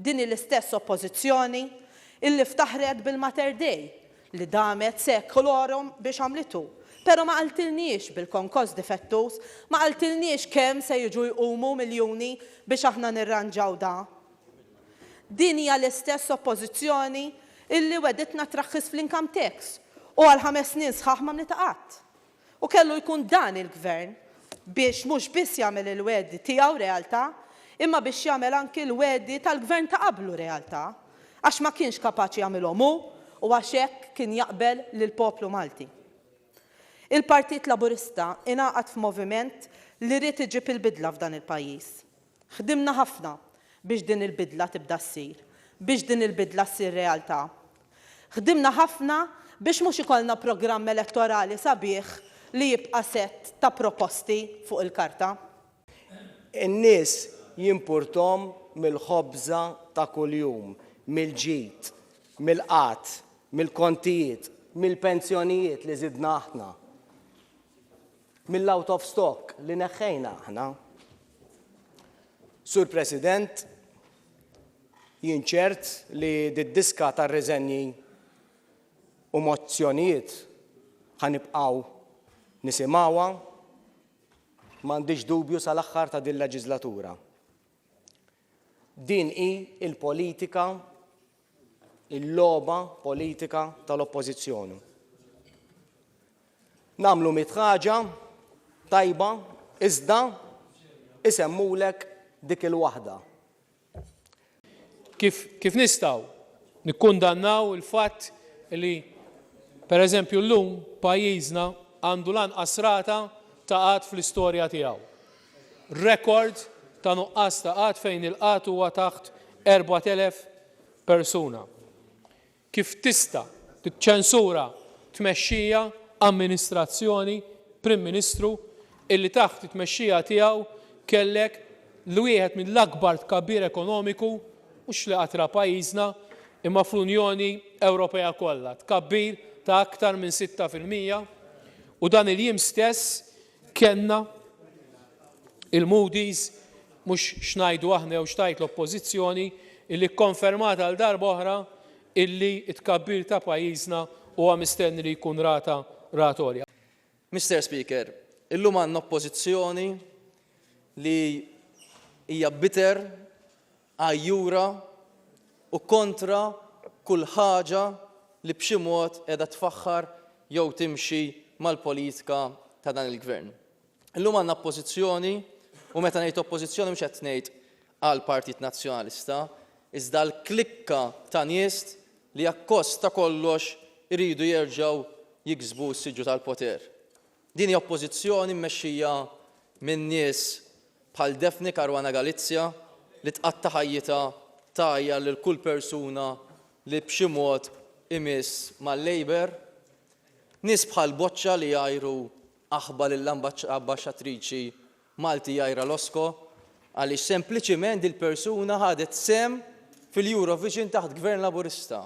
Din hi l-istess Oppożizzjoni illi ftaħret bil-Mater Dei li damet secolorum biex għamlitu, pero ma qaltilniex bil-konkoss difettuż, ma qaltilniex kemm se jiġu jqumu miljuni biex aħna nirranġaw da. Din hija l-istess Oppożizzjoni illi wegħditna traħħis fl-income tax u għal ħames snin sħaħ m'għamlitha qatt. U kellu jkun dan il-Gvern biex mhux biss jagħmel il-wegħdi tiegħu realtà, imma biex jagħmel anki l-wegħdi tal-Gvern ta' qablu realtà, għax ma kienx kapaċi jagħmilhom hu u għax hekk kien jaqbel lill-poplu Malti. Il-Partit Laburista ingħaqad f'moviment li ried iġib il-bidla f'dan il-pajjiż. Ħdimna ħafna biex din il-bidla tibda ssir, biex din il-bidla ssir realtà. Ħdimna ħafna biex mhux ikollna programm elettorali sabiħ li jibqa' sett ta' proposti fuq il-karta. In-nies jimpurthom mill-ħobża ta' kuljum, mill-ġid, mill-qgħad, mill-kontijiet, mill-pensjonijiet li żidna aħna. mill-out of stock li neħħejna aħna. Sur President, jien ċert li d-diska ta' riżenji u mozzjonijiet ħanibqgħu nisimgħuha m'għandix dubju sal-aħħar ta' din leġiżlatura. Din hi l-politika, il-logħba politika tal-Oppożizzjoni. Nagħmlu mitt ħaġa tajba iżda isemmulek dik il-waħda. Kif kif nistgħu nikkundannaw il-fatt li pereżempju llum pajjiżna għandu l-anqas rata ta' qgħad fl-istorja tiegħu? rekord ta' nuqqas ta' qgħad fejn il-qgħad huwa taħt 4,000 persuna. Kif tista' tiċċensura tmexxija, amministrazzjoni, Prim Ministru illi taħt it-tmexxija tiegħu kellek l-wieħed mill-akbar tkabbir ekonomiku mhux li qatt ra pajjiżna imma fl-Unjoni Ewropea kollha, tkabbir ta' aktar minn sitta fil-mija u dan il-jiem stess Kellna il-Moody's, mhux x'ngħidu aħna jew x'tgħid l-Oppożizzjoni, illi kkonfermat għal darba oħra illi t-tkabbir ta' pajjiżna huwa mistenni li jkun rata rata għolja. Mister Speaker, illum għandna Oppożizzjoni li hija bitter għajjura u kontra kull ħaġa li b'xi mod qiegħda tfaħħar jew timxi mal-politika ta' dan il-Gvern. Illum għandna Oppożizzjoni, u meta ngħid Oppożizzjoni mhux qed ngħid għall-Partit Nazzjonalista, iżda għall-klikka ta' nies li akkost ta' kollox iridu jerġgħu jiksbu s-siġġu tal-poter. Din hija oppożizzjoni mmexxija minn nies bħal Daphne Caruana Galizia li tqatta' ħajjitha tgħajjar lil kull persuna li b'xi mod imiss mal-Labour. Nies bħal Boccia li jgħajru aħba lill-Ambaxxatriċi Malti Jaira Losco għaliex sempliċiment dil-persuna ħadet sehem fil-Eurovision taħt Gvern Laburista.